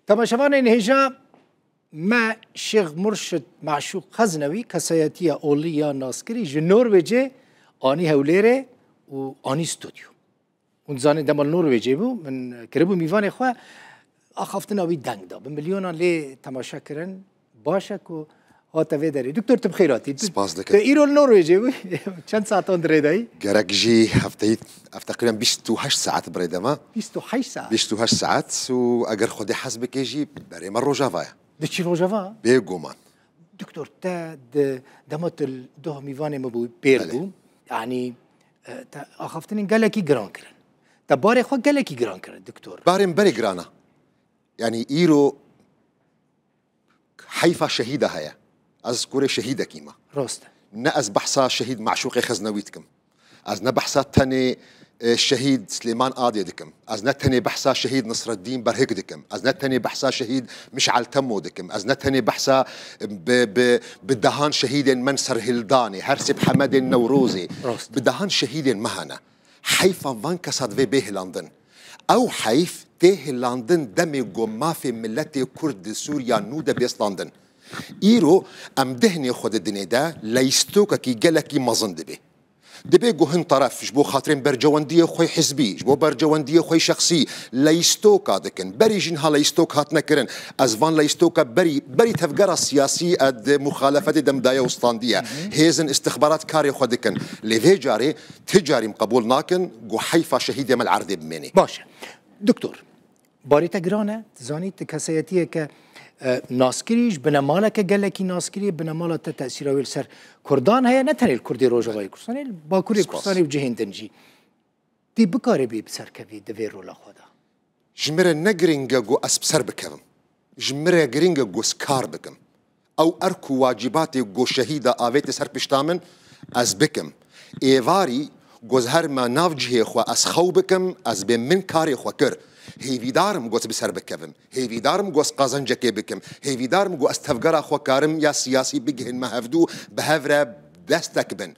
Temaşevanên hêja me Şêx Murşid Meşûq Xezinewî kesayetiya olî ya naskirî ji Norwêcê anî Hewlêrê û anî stûdyo. Hûn dizanê dema li Norwêcê bû min kiribû mîvanê xwe axaftina wî deng da. Bi milyonan lê temaşe kirin Baş e ku hate vê derê. Doktor tu bixêr hatî. Spas dikim. Tu îro li Norwêcê bû çend satan di rê de yî? Gerek jî hefteyî ev teqrîben bîst û heşt saet bi rê de me. Bîst û heşt saet? Bîst û heşt saet û eger Xwedê hez bike jî berê me Rojava ye. Diçî Rojava? Bêguman. Doktor te di dema tu li doh mîvanê min bû pêr bû yanî te axaftinên gelekî giran kirin. Te barê xwe gelekî giran kirin doktor. Barê min berê giran e. Yanî îro Heyfa şehîda heye. Ez kurê şehîdekî me. Rast e. Ne ez behsa şehîd Meşûqê Xeznewî dikim. Ez ne behsa tenê şehîd Silêman Adê dikim. Ez ne tenê behsa şehîd Nisreddîn Berhik dikim. Ez ne tenê behsa şehîd Miş'el Temo dikim. Ez ne tenê behsa bi dehan şehîdên me serhildanê, her sê bi Hemedê Newrozê, bi dehan şehîdên me hene. Heyfa van kesa divê bê hilandin. Ew heyf tê hilandin demê ku mafê miletê Kurd di Sûriya nû de bê standin. Îro em dihinê xwe di dinê de leystokekî gelekî mezin dibê. Dibê ku hin teref ji bo xatirên bercewendiyê xwe hizbî, ji bo bercewendiyê xwe şexsî leystoka dikin. Berî jin ha leystok hatine kirin. Ez van leystoka berî berî tevgera siyasî e di muxalefetê de mdaye û standiye. Hêzin îstixbarat karê xwe dikin. Lê vê carê Ti carîm qebûl nakin ku heyfa şehîdê me li erdê bimênê. Baş e. Doktor, barê te giran e. Ti zanî ti kesayetiyeke naskirî, ji binemaleke gelekî naskirî, binemala te tesîra wê li ser kurdan heye, ne tenê li Kurdê Rojavayê Kurdistanê, li Bakurê Kurdistanê û cihên din jî. Ti bikaribî bi ser kevî di vê rola xwe de? Ji min re ne girîng e ku ez bi ser bikevim. Ji min re girîng e ku ez kar bikim. Ew erk û wacîbatê ku şehîda avêti ser pişta min, ez bikim. Êvarî got her me nav cihê xwe ez xew bikim, ez bê min karê xwe kir. Hêvîdar im got bi ser bikevim. Hêvîdar im got qazencekê bikim. Hêvîdar im got ez tevgera xwe karim ya siyasî bigihînme hevdu, bi hev re destek bin.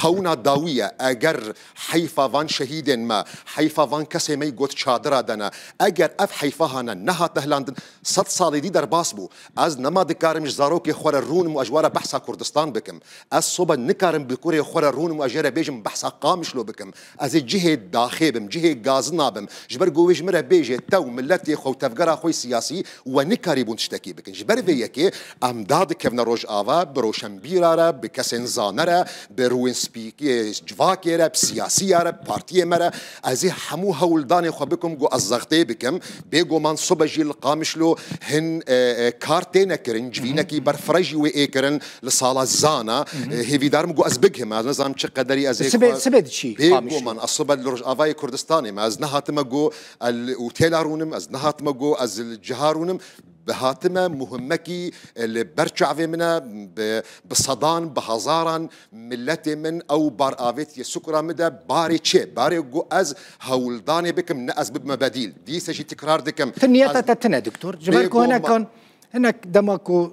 Xewna dawî ye, eger heyfa van şehîdên me, heyfa van kesê mey got çadira de ne, eger ev heyfa hane nehat dehlandin, sed salê dî derbas bû. Ez nema dikarim ji zarokê xwe re rûnim û ez ji we re behsa Kurdistan bikim. Ez sobe nikarim bi kurê xwe re rûnim û ez jê re bêjim behsa Qamişlo bikim. Ez ê cihê daxê bim, cihê gazina bim. Ji ber ku wê ji min re bêje tew, miletê xwe û tevgera xwe yê siyasî we nikarîbûn tiştekî bikin. Ji ber vê yekê em dadikevine Rojava, bi roşenbîra re, bi kesên zane re, bi rûyên spî yê civakê re, bi siyasiya re, bi partiyê me re. Ez ê hemû hewldanê xwe bikim ku ez zextê bikim. Bêguman sobe jî li Qamişlo hin kar têne kirin, civînekî ber fire jî wê ê kirin. Li sala zana hêvîdar min got ez bigihim ez nizanim çi qederî ez ê Sibê xwe sibê diçî pê got Qamişlo. man ez sibe li Rojavayê Kurdistanê me ez nehatime got el û têla rûnim ez nehatime got ez li ciha rûnim bi hatime muhimmekî li ber çavê min e bi bi sedan bi hezaran miletê min ew bar avêtiye sukura min de barê çi ye barê got ez hewldanê bikim ne ez bibime bedîl dîse jî tikrar dikim Ti niyeta ez te tune doktor. Ji ber ku Bêgûman. hinekan hinek dema ku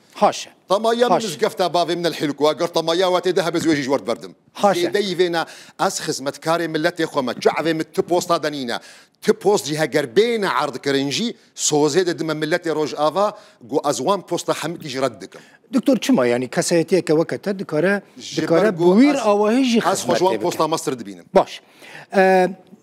Haşa. Tamaya min mizgefta bavê min el hilkwa gir tamaya watê de hebez wê jî ji wir diberdim. Haşa. Zêdeyî vê ne ez xizmetkarê miletê xwe me çi evê min ti posta de nîne. Ti post jî heger bêne erdkirin jî sozê didime miletê Rojava ku ez wan posta hemikî jî red dikim. Doktor çima yanî kesayetiyeke weke te dikare dikare bi wîr awahî jî xizmetê bike? Ez xwe ji wan posta me stir dibînim. Baş.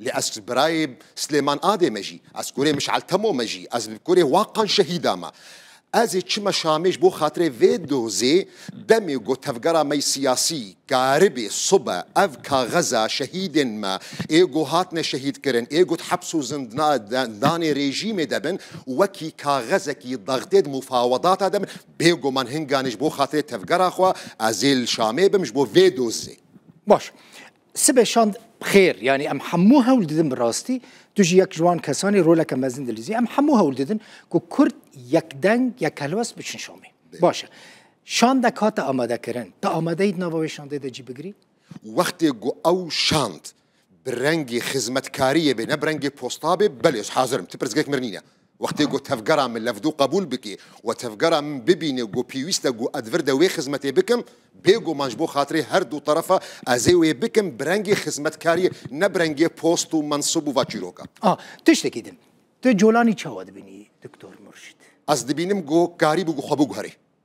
Lê ez ji birayê Silêman Adê me jî, ez kurê Mişal Temo me jî, ez li kurê Waqan Şehîda me. Ez ê çime Şamê ji bo xatirê vê dozê demê ku tevgera me yê siyasî, Karibê, sobe, ev kaxeza şehîdên me ê ku hatine şehîdkirin, ê ku di heps û zindanê rejîmê de bin, wekî kaxezekî daxtê di mufawedata de bin, bêguman hinganê ji bo xatirê tevgera xwe ez ê li Şamê bim ji bo vê dozê. Baş. Sibe şand xêr yanî em hemû hewl didin bi rastî tu jî yek ji wan kesan î roleke mezin dilîzî em hemû hewl didin ku kurd yekdeng yek helwest biçin şamê. Baş e. Şandek hate amadekirin. Te amade î di nava wê şandê de cî bigirî? Wextê ku ew şand bi rengê xizmetkariyê bê ne bi rengê posta bê belê ez hazir im. Ti pirsgirêk mir nîne. Wextê ku tevgera min levdû qebûl bike û tevgera min bibîne ku pêwîst e ku ez vir de wê xizmetê bikim, bêguman ji bo xatirê her du terefa ez ê wê bikim bi rengê xizmetkariyê ne bi rengê post û mensib û va çîroka. A, tiştekî din. Tu colanî çawa dibînî Doktor Murşid? Ez dibînim ku karî bû ku xwe biguherî.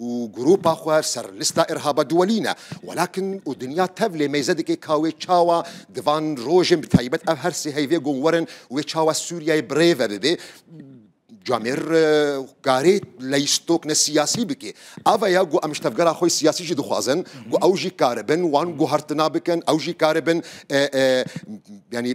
û grûpa xwe ser lista îrhaba diwelîne. Welakin û dinya tev lê mêze dike ka wê çawa di van rojên bi taybet ev her sê heyvê gon werin wê çawa Sûriyeyê bi rê ve bibe. Camêr karê leystok ne siyasî bike. Ava ya ku em ji tevgera xwe siyasî jî dixwazin ku ew jî karibin wan guhertina bikin, ew jî karibin yanî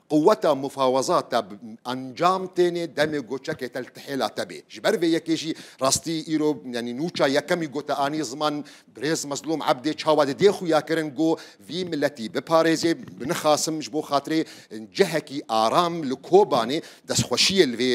Quweta mufawaza te bi encam têne demê ku çekê te li tihêla te bê. Ji ber vê yekê jî rastî îro yanî nûça yekemî gote anî ziman Birêz Mezlûm Ebdê çawa di dê xuya kirin ku vî miletî biparêzê bi nixasim ji bo xatirê cihekî aram li Kobanê destxweşiyê li vê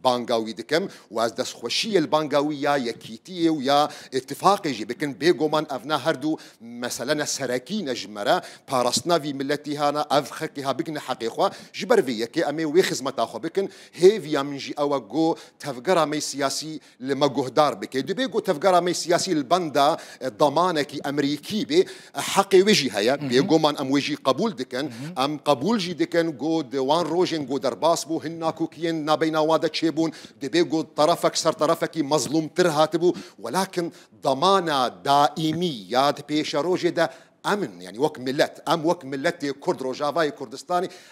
Banga wî dikim û ez destxweşiyê li banga wî ya Yekîtiyê û ya Îtîfaqê jî dikim. Bêgoman ev ne her du mesele ne serekî ne ji me re parastina vî miletî ha ne ev xelkê ha bigihne heqê xwe. Ji ber vê yekê em ê wê xizmeta xwe bikin. Hêviya min jî ew e ku tevgera me siyasî li me guhdar bike. Dibe ku tevgera me siyasî li benda damanekî Emerîkî bê. Heqê wê jî heye, bêguman em wê jî qebûl dikin. Em qebûl jî dikin ku di wan rojên ku derbas bû hin nakokiyên nabeyna wan de çêbûn, divê ku terefek ser terefekî mezlûmtir hatibû. Welakin demana daîmî ya di pêşerojê de em in. Yanî wek milet, em wek miletê Kurd Rojavayê Kurdistanê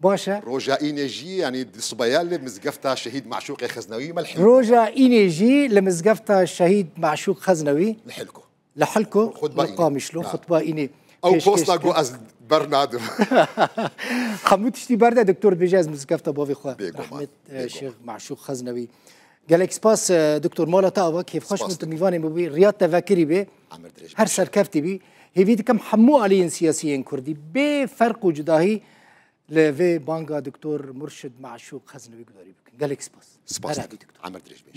Baş e. Roja Înê jî yanî di sibeya li mizgefta Şehîd Maşûqê Xeznewî me li Hilko. Roja Înê jî li mizgefta Şehîd Maşûq Xeznewî. Li Hilko. Li Hilko li Qamişlo xutba Înê. Ew posta ku ez ber nadim. Hemû tiştî berde doktor dibêje ez mizgefta bavê xwe Rehmet Şêx Maşûq Xeznewî. Gelek spas Doktor Mala te ava kêfxweş bû tu mîvanê min bûyî riyad te vekirî bê her serkeftî bî hêvî dikim hemû aliyên siyasî yên kurdî bê ferq û cudahî li vê banga Doktor Murşid Meşûq xezin wî gudarî bikin gelek spas. Spas Amir dirêj bê.